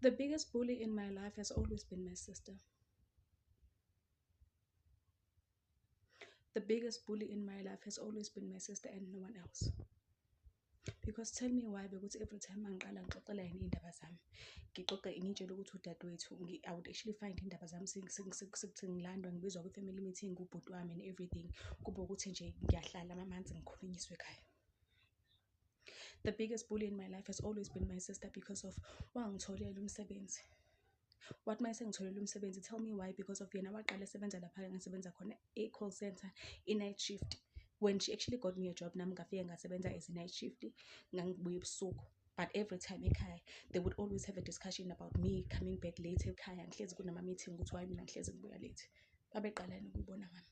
The biggest bully in my life has always been my sister. The biggest bully in my life has always been my sister and no one else. Because tell me why because every time angiqala ngixoxela yena iy'ndaba zami ngixoxe ngitshele ukuthi udadewethu I would actually find iy'ndaba zami sekuthi ngilandwa ngibizwa kwi-family meeting kubhuti wami and everything kube ukuthi nje ngiyahlala amamanzi ngikhulunyiswe ekhaya. The biggest bully in my life has always been my sister because of wangitholela umsebenzi. Wathi mase ngitholele umsebenzi tell me why because of yena waqala esebenza lapha engisebenza khona e-call center i-night shift. When she actually got me a job nami ngafike ngasebenza as a night shift ngangibuya ebusuku. But every time ekhaya they would always have a discussion about me coming back late ekhaya ngihlezi kunama-meeting ukuthi why mina ngihlezi ngibuya late. Babeqalani ukuyibona ngami.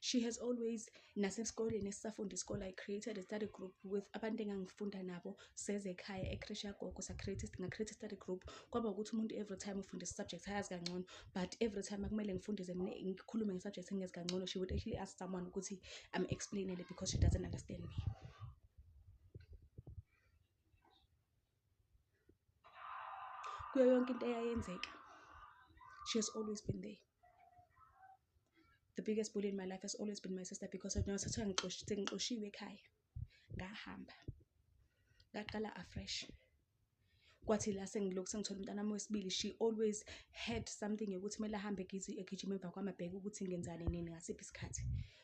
she has always nasesikoleni esisafunda isikole i created a study group with abantu engangifunda nabo sezekhaya ecresh yagogo nga-create study group kwaba ukuthi umuntu every time ufunda isubject ayazi kangcono but every time akumele ngifundise mina ngikhulume ngesubject engezi kangcono she would actually ask someone ukuthi am explainele because she doesn't understand me kuyo yonke into eyayenzeka she has always been there The biggest bully in my life has always been my sister because yona sekuthiwa sengixoshiwe ekhaya ngahamba ngaqala afresh kwathi la sengilokhu sengithola umntana wami wesibili she always had something yokuthi kumele ahambe egijima emva kwami abheke ukuthi ngenzani nini ngasiphi isikhathi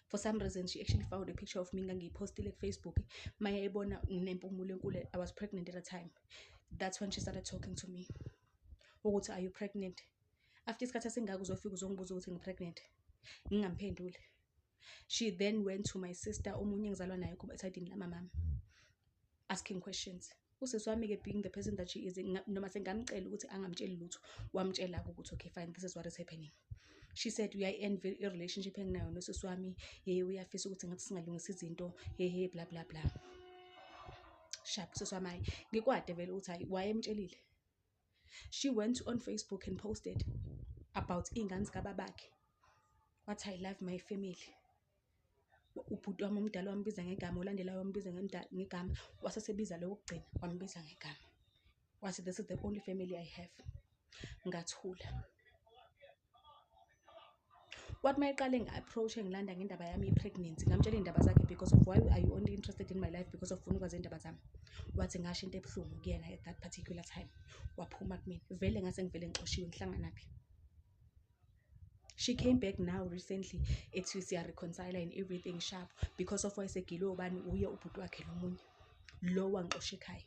for some reason she actually found a picture of me ngangiyiphostile kufacebook maye ebona nginempumulo enkulu i was pregnant at a time that's when she started talking to me ukuthi are you pregnant after isikhathi esingaka uzofika uzongibuza ukuthi ngi-pregnant ngingamphenduli she then went to my sister omunye engizalwa naye kuba esidini lamamami asking questions usisi wami-ke being the person that she is nga- noma sengamcela ukuthi angamtsheli lutho wamtshela-ke ukuthi okay fine this is what is happening she said uyayi-envy i-relationship enginayo nosisi wami ye uyafisa ukuthi ngathi singalungisa izinto hehe bla bla bla shap usisi wami hayi ngikwade vele ukuthi hayi wayemtshelile She went on Facebook and posted about iy'ngane zikababakhe, wathi I love my family. Ubhuti wami omdala wambiza ngegama, olandelayo wambiza ngegama, wase esebiza lo wokugcina wambiza ngegama. Wathi this is the only family I have. Ngathula. kwathi uma eqale ngi-approach engilanda ngendaba yami ye-pregnancy ngamtshela iy'ndaba zakhe because of why are you only interested in my life because of funa ukwazi iy'ndaba zami wathi ngasho into ebuhlungu kuyena at that particular time waphuma kumina vele ngase ngivele ngixoshiwe ngihlanganaphi she came back now recently ethi siyareconcile and everything sharp because of wayesegilwe ubani uye ubhuti wakhe lomunye lo wangixosha ekhaya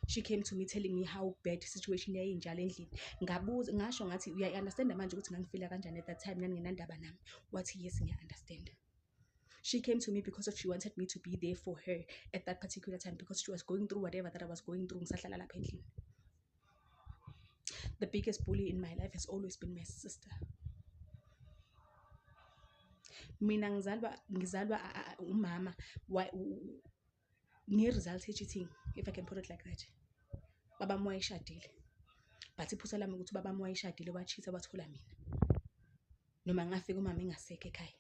she came to me telling me how bad situation yayinjalo endlini ngabuza ngasho ngathi uyayi-understanda manje ukuthi ngangifila kanjani at that time naningenandaba nami wathi yes ngiya-understanda she came to me because of she wanted me to be there for her at that particular time because she was going through whatever that i was going through ngisahlala lapha endlini the biggest bully in my life has always been my sister mina ngizalwa ngizalwa umama nge-result ye-cheating if i can put it like that baba wami wayeshadile but iphutha lami ukuthi ubaba wami wayeshadile wachitha wathola mina noma ngafika umama engasekho ekhaya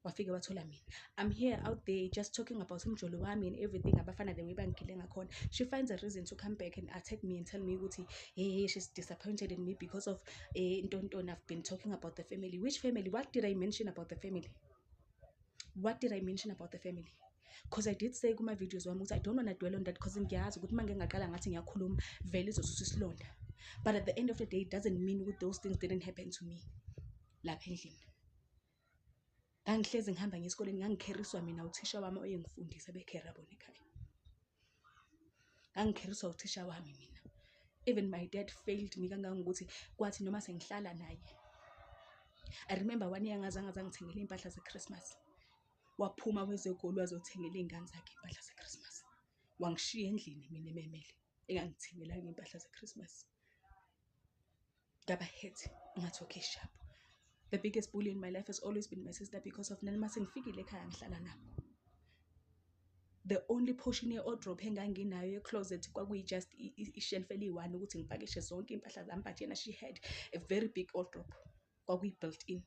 wafike wathola mina i'm here out there just talking about umjolo wami and everything abafana the way bangigile ngakhona she finds a reason to come back and attack me and tell me ukuthi hey, hey she's disappointed in me because of eh, ntontoni i've been talking about the family which family what did i mention about the family what did i mention about the family because i did say kuma-videos wami ukuthi i don't wanna dwell on that because ngiyazi ukuthi uma ngingaqala ngathi ngiyakhuluma vele izosusa isilonda but at the end of the day it doesn't mean ukuthi those things didn't happen to me lapha endlini ngangihlezi ngihamba ngesikoleni ngangikheriswa mina uthisha wami oyengifundisa bekhera bona ekhaya ngangikheriswa uthisha wami mina even my dad failed me kangangokuthi kwathi noma sengihlala naye i remember one year ngazange zangithengela iy'mpahla ze-christmas waphuma kwezegoli wazothengela iy'ngane zakhe iy'mpahla ze-christmas wangishiya endlini mina ememele engangithengelanga iy'mpahla ze-christmas ngaba hit ngathi okay sharp the biggest bully in my life has always been my sister because of nani mase ngifikile ekhaya ngihlala nabo the only portion ye-odrop enganginayo ye-closet kwakuyi-just ishelf eliyi-one ukuthi ngipakishe zonke iy'mpahla zami but yena she had a very big odrop kwakuyi-built in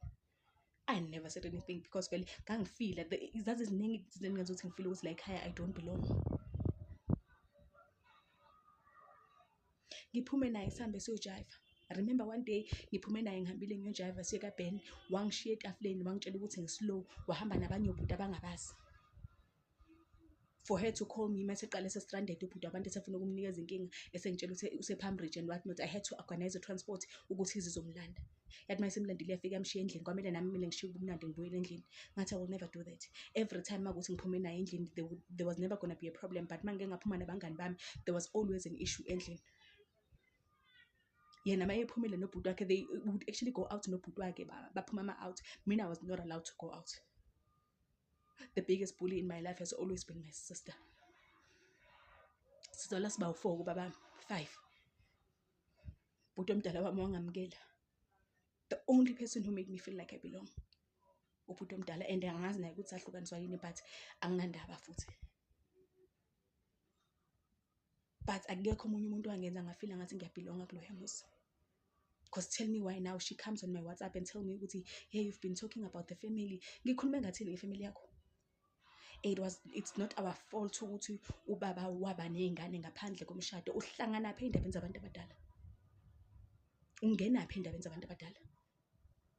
I never said anything because vele ngangifila zaziziningi izinto engingenza ukuthi ngifile ukuthi la ekhaya I don't belong. Ngiphume naye sihambe siyojayiva. Remember one day ngiphume naye ngihambile ngiyojayiva siye kaBen, wangishiya etafuleni wangitshela ukuthi ngi-slow, wahamba nabanye obhuti abangabazi. for her to call me mase qale sestranded ubhuti abantu esefuna ukumnikeza inkinga esengitshela ukuthi usepalm ridge and what not i had to organize transport ukuthi izizomlanda yathi uma isemlandile iyafika yamshiya endlini kwamele nami mina ngishiye ubumnandi ngibuyele endlini ngathi i will never do that every time makuthi ngiphume naye endlini there, would- there was never gonna be a problem but uma ngike ngaphuma nabangani bami there was always an issue endlini yena uma ephumile nobhuti wakhe they would actually go out nobhuti wakhe ba- baphuma ama-out mina i was not allowed to go out the biggest bully in my life has always been my sister sizalwa siba u-four kubaba five bhuti omdala wami wangamukela the only person who made me feel like i belong ubhuti omdala and angazi naye ukuthi ahlukaniswa yini but anginandaba futhi but akekho omunye umuntu wangenza ngafila ngathi ngiyabhilonga kuloya muzi because tell me why now she comes on my whatsapp and tell me ukuthi hey you've been talking about the family ngikhulume ngathini ngefamily yakho it was it's not our fault ukuthi ubaba waba nezingane ngaphandle komshado uhlangana phi endabeni zabantu abadala ungena phi endabeni zabantu abadala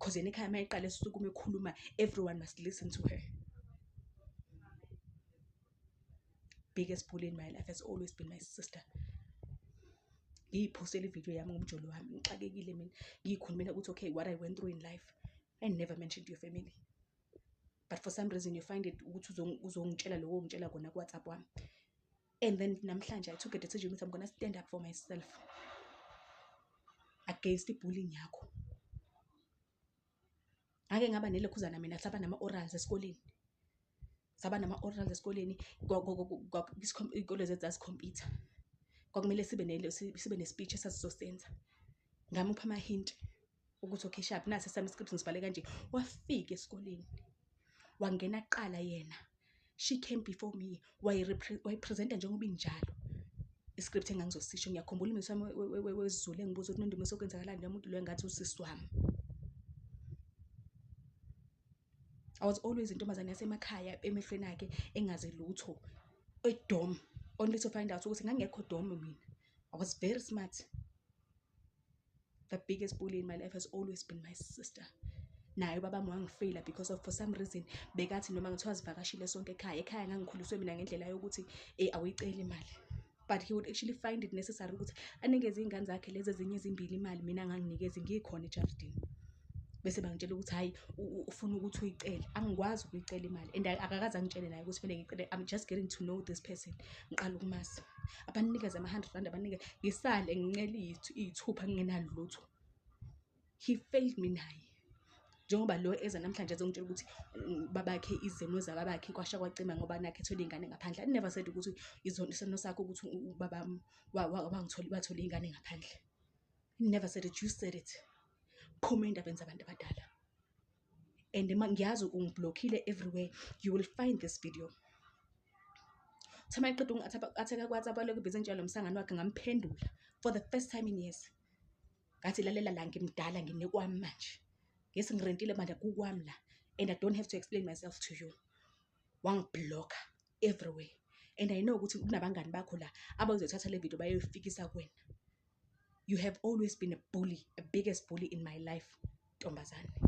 Cause yena ekhaya mayeqala esukuma ekhuluma everyone must listen to her. Biggest bully in my life has always been my sister. Ngiyiphosele ivideo yami ngomjolo wami ngixakekile mina ngiyikhulumela ukuthi okay what I went through in life I never mentioned your family but for some reason you find it ukuthi uzongitshela lokho ngitshela kona kuWhatsApp wami and then namhlanje i took a decision ukuthi i'm gonna stand up for myself against ibullying yakho ngake ngaba nelekhuzana mina saba nama-orals esikoleni saba nama-orals esikoleni iy'kole zethu zasikhompyutha kwakumele sibe sibe ne-speech esasizosenza ngamupha amahinti ukuthi okhishaphi nasi esami script ngisibhale kanje wafika esikoleni wangena kuqala yena she came before me wayipresenta njengoba injalo iscript engangizosisho ngiyakhumbula umuntu wami wezulu engibuza ukuthi nondumiso okwenzakalani nomuntu lo engathi usisi wami I was always intombazane yasemakhaya emehlweni akhe engazi lutho edom only to find out ukuthi ngangekho dom mina I was very smart the biggest bully in my life has always been my sister naye ubaba wami wangifeyila because of for some reason bekathi noma ngithiwa zivakashile sonke ekhaya ekhaya ngangikhuliswe mina ngendlela yokuthi eh awuyiceli imali but he would actually find it necessary ukuthi anikeze iy'ngane zakhe lezi ezinye ezimbili imali mina nganginikezi ngikhona ejardini bese bangitshela ukuthi hhayi ufuna ukuthi uyicele angikwazi ukuyicela imali and akakaze angitshele naye ukuthi kumele ngicele i'm just getting to know this person ngiqala ukumazi abanikeze ama-hundred rand abanike ngisale ngincele iyithi- iyithupha ngingenalutho he failed me naye njengoba lo eza namhlanje ezongitshela ukuthi mm, babakhe izimo zababakhe kwasha kwacima ngoba nakhe ethole iy'ngane ngaphandle i never said ukuthi izono isono sakho ukuthi u- u- ubaba m- wa- wa- wangitholi wathole iy'ngane ngaphandle I never said it you said it phuma ey'ndabeni zabantu abadala and ngiyazi ungiblockile everywhere you will find this video thema iqeda ungatheka kwathi abalokhu ibhizi entshela lo msangano wakhe ngamphendula for the first time in years ngathi lalela la ngimdala nginekwami manje ngesi ngirentile manje kukwami la and i don't have to explain myself to you wangibhlokha everywhere and i know ukuthi kunabangani bakho la abazothatha le video bayoyifikisa kuwena you have always been a bully a biggest bully in my life ntombazane